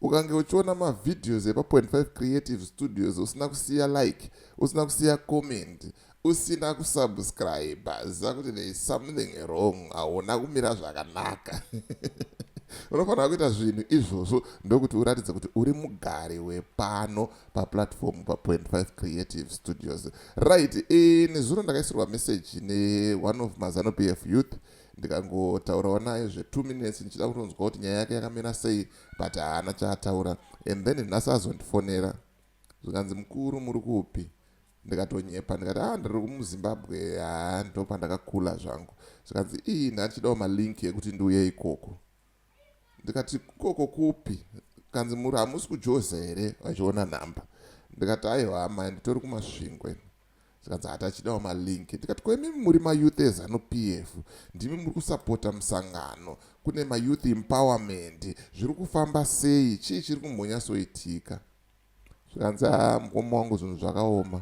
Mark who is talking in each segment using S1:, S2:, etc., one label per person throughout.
S1: ukange uchiona mavideos epa 25 creative studios usina kusiya like usina kusiya comment usina kusubscribe ziva kuti there is something wrong hauna kumira zvakanaka unofanira kuita zvinhu izvozvo ndokuti uratidze kuti uri mugari wepano paplatform pa 25 creative studios right ini zvino ndakaisirwa message ne one of mazano pf youth ndikangotaurawo naye zve2 minutes ndichida kutonzwa kuti nyaya yake yakamira sei but haana chaataura and then nhasi azondifonera zvikanzi mukuru muri kupi ndikatonyepa ndikati a ah, ndiri muzimbabwe haa ndopandakakula zvangu zvikanzi ii nhandichidawo malink ekuti ndiuye ikoko ndikati ikoko kupi kanzi muri hamusi kujoza here vachiona nhamba ndikati aiwa amai nditori kumasvingo ini zvikanzi hati achidawo malink ndikati ko imimi muri mayouth ezanu p f ndimi muri kusapota musangano kune mayouth empowerment zviri kufamba sei chii chiri kumbonyasoitika zvikanzi ha ah, mukoma wangu zvinhu zvakaoma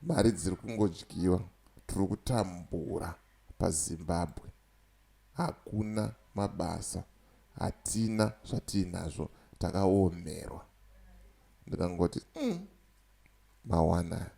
S1: mari dziri kungodyiwa tiri kutambura pazimbabwe hakuna mabasa hatina zvatiinazvo takaomerwa ndikangoti umm mawana aya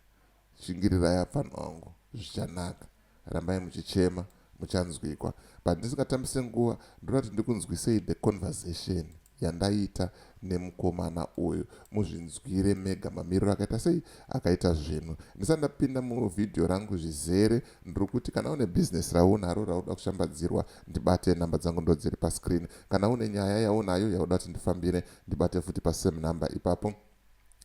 S1: shingirirai apfana wangu zvichanaka rambai muchichema muchanzwikwa but ndisingatambise nguva ndoda kuti ndikunzwisei the conversation yandaita nemukomana uyu muzvinzwire mega mamiriro akaita sei akaita zvinhu ndisati ndapinda muvhidhiyo rangu zvizere ndiri kuti kana une bhizinesi raunaro rauda kushambadzirwa ndibate nhamba dzangu ndo dziri pascreen kana une nyaya yaunayo yauda kuti ndifambire ndibate futi pasame number ipapo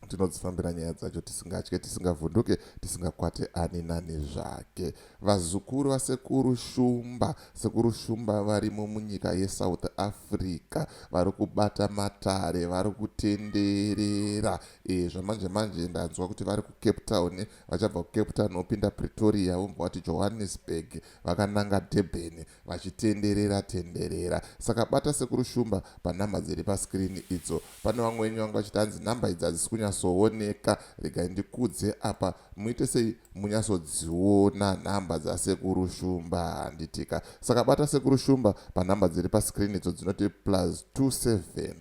S1: tinodzifambira nyaya dzacho tisingatye tisingavhunduke tisingakwate ani nani zvake vazukuru vasekuru shumba sekuru shumba varimo munyika yesouth africa vari kubata matare vari kutenderera e, zvamanje manje ndanzwa kuti vari kucape town vachabva kucape town vopinda pretoria vomva vati johannesburg vakananga durban vachitenderera tenderera saka bata sekuru shumba panhamba dziri pascreen idzo pane vamwe wenyu vanga vachiti hanzi nhamba idzi hadzisi kunyatsooneka regai ndikudze apa muite sei munyatsodziona nhamba dzasekuru shumba handitika saka bata sekuru shumba panhamba dziri pascreen idzo dzinoti plus 27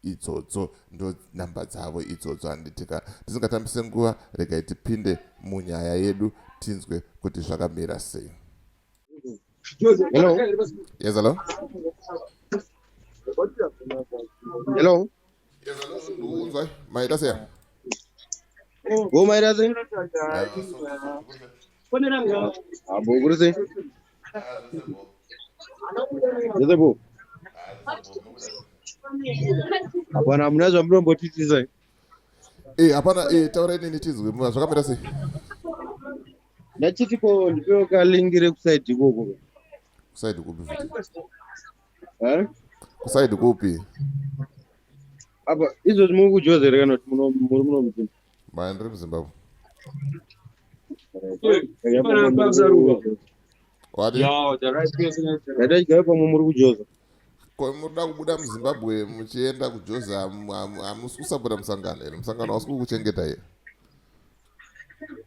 S1: idzodzo ndo nhamba dzavo idzodzo handitika tisingatambise nguva regai tipinde munyaya yedu tinzwe kuti zvakamira sei Hello.
S2: Yes, hello. Hello.
S1: Yes, hello. Maita sei?
S2: Wo maita sei? Abo kuri sei? Yese bo. Hapana hamuna zvamunombotitisa. Eh,
S1: hapana eh, taura nini tizwe. Zvakamira sei? ndachiti
S2: ko ndipewo kalingi rekusaidi ikoko kusaidi
S1: kupi
S2: kusaidi kupi apa izvozvi muri kujoza here kana kuti muri muno muzimbabwe maya ndiri muzimbabwe ndadaigayo pamwe muri kujoza munoda
S1: kubuda muzimbabwe muchienda kujoza hamusi kusapota musangano here musangano hausi kukuchengeta here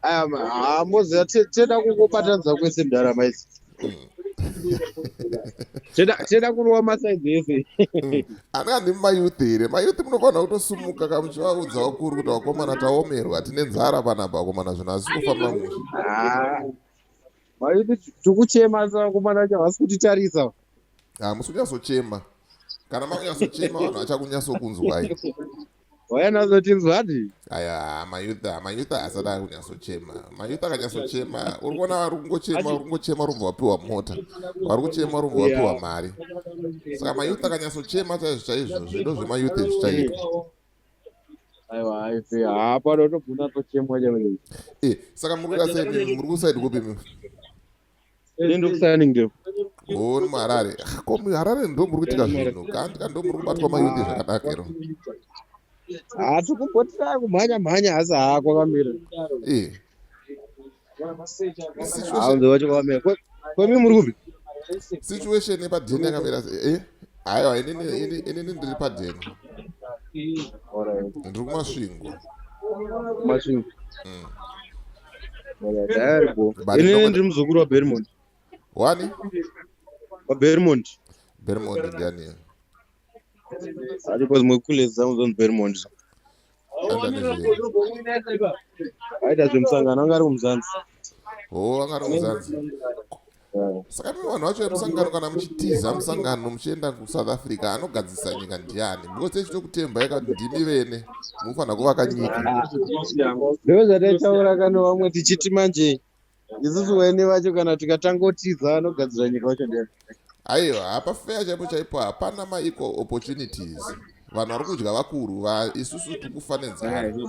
S1: Um,
S2: ah, moziva te- tenda kungobatanidza kwese ndarama idzi Tenda- tenda kurova masaidzi ese anani
S1: mayouth here mayouth munofanira kutosumuka ka muchivaudza vakuru kuti vakomana taomerwa tine nzara panapa vakomana zvinhu hazisi kufamba mushe Ah. Maiti
S2: tikuchema asi vakomana vacho havasi kutitarisa hamusi
S1: kunyatsochema kana makunyatsochema vanhu vachakunyatsokunzwai wayanatsotinzwadi
S2: aya mayutha
S1: mayutha asada kunyatsochema mayutha akanyatsochema uri kuona vari kungochema uri kungochema rumva wapiwa mota vari kuchema rumva wapiwa mari saka mayutha akanyatsochema chaizvo chaizvo zvido zvemayutha izvi chaitwa aiwa
S2: aife hapano tobvuna tochemwa chaizvo eh, saka muri
S1: kuita sei muri kusaidi kupi
S2: ndokusaningireoni muharare
S1: ko muharare ndo muri kuitika zvinhu kandi ka ndo muri kubatwa mayuti zvakadaka ero hati kumbotira
S2: kumhanya mhanya hasi hako kamira kwemi muri kupi situation
S1: yepadheni yakamira eh? aiwa inini ndiri padheni ndiri kumasvingo
S2: masvingo mm. Ini ndiri muzukuru waBermond. Wani? WaBermond. Bermond
S1: ndiani?
S2: Ari kwa zimwe kule zangu zon Bermond. Aita zvemusangano anga ari kumuzanzi. Oh, anga
S1: ari kumuzanzi. saka nimi vanhu vacho vemusangano kana muchitiza musangano muchienda kusouth africa anogadzisa nyika ndiani because echitokutembai kati ndimi vene munofanira kuvaka nyika
S2: ndozvataitaura kana vamwe tichiti manje isusu vene vacho kana tikatangotiza anogadzira nyika vacho nde aiwa hapa
S1: feya chaipo chaipo hapana maequal opportunities vanhu vari kudya vakuru vaisusu tikufanedzana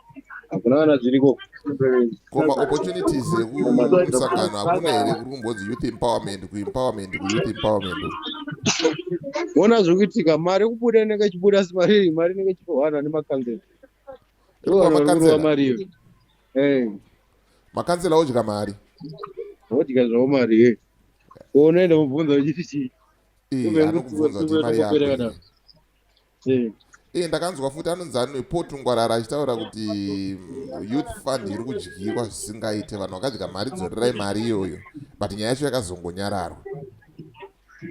S2: hakuna kana zviriko koma
S1: opportunities ekusangano hakuna here kuri kumbonzi youth empowerment kuempowerment kuyouth empowerment
S2: ona zviri kuitika mari kubuda inenge ichibuda asi mari iyi mari inenge ichitohwana nemakanzela ivanoroa mari iyo eh.
S1: makanzela odya mari odya
S2: zvavo mari ye unoenda mubvunza uchiti chii
S1: iye ndakanzwa futi anonzi anepotu ngwarara achitaura kuti mm, youth fund iri kudyiwa zvisingaite vanhu vakadya mari dzorerai mari iyoyo but nyaya yacho yakazongonyararwa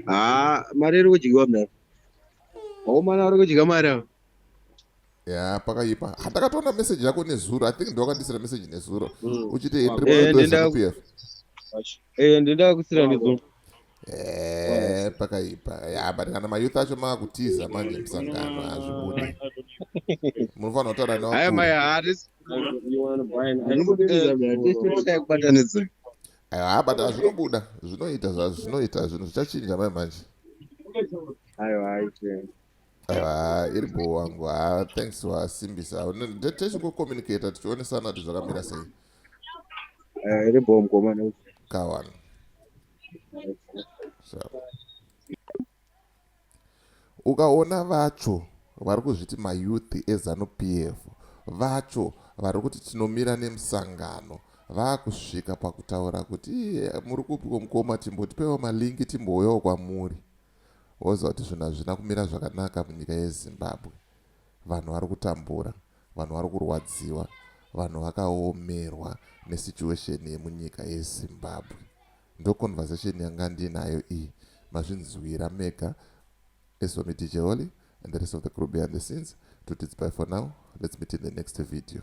S1: haa
S2: mari iri kudyiwa mna akomana ari kudya mari ava ya pakaipa
S1: handakatoona meseji yako nezuro i think ndiwakandisira meseji nezuro mm. uchiti ndiri mupf eh, eh, ndindakusira
S2: nezuro Eh, pakaipa
S1: ya but kana mayouth acho maakutiza manje musangano hazvibude munofanira kutaura newakuaabata ah, ah, zvinobuda zvinoita zvazvinoita zvinhu zvichachinja mai manje aiwa iri bho wangu ha thanks wasimbisa techingokommunicata tichionesana kuti zvakamira sei
S2: eh, iri bho mkomana kawana
S1: ukaona vacho vari kuzviti mayouth ezanup f vacho vari kuti tinomira nemusangano vaakusvika pakutaura kuti iye muri kupiko mukoma timbotipewo malingi timbouyawo kwamuri woziva kuti zvinhu hazvina kumira zvakanaka munyika yezimbabwe vanhu vari kutambura vanhu vari kurwadziwa vanhu vakaomerwa nesituation yemunyika yezimbabwe ndoconversation yanga ndinayo iyi mazvinzwira mega esomidijeholi and the rest of the crew behind the scenes to tits by for now let's meet in the next video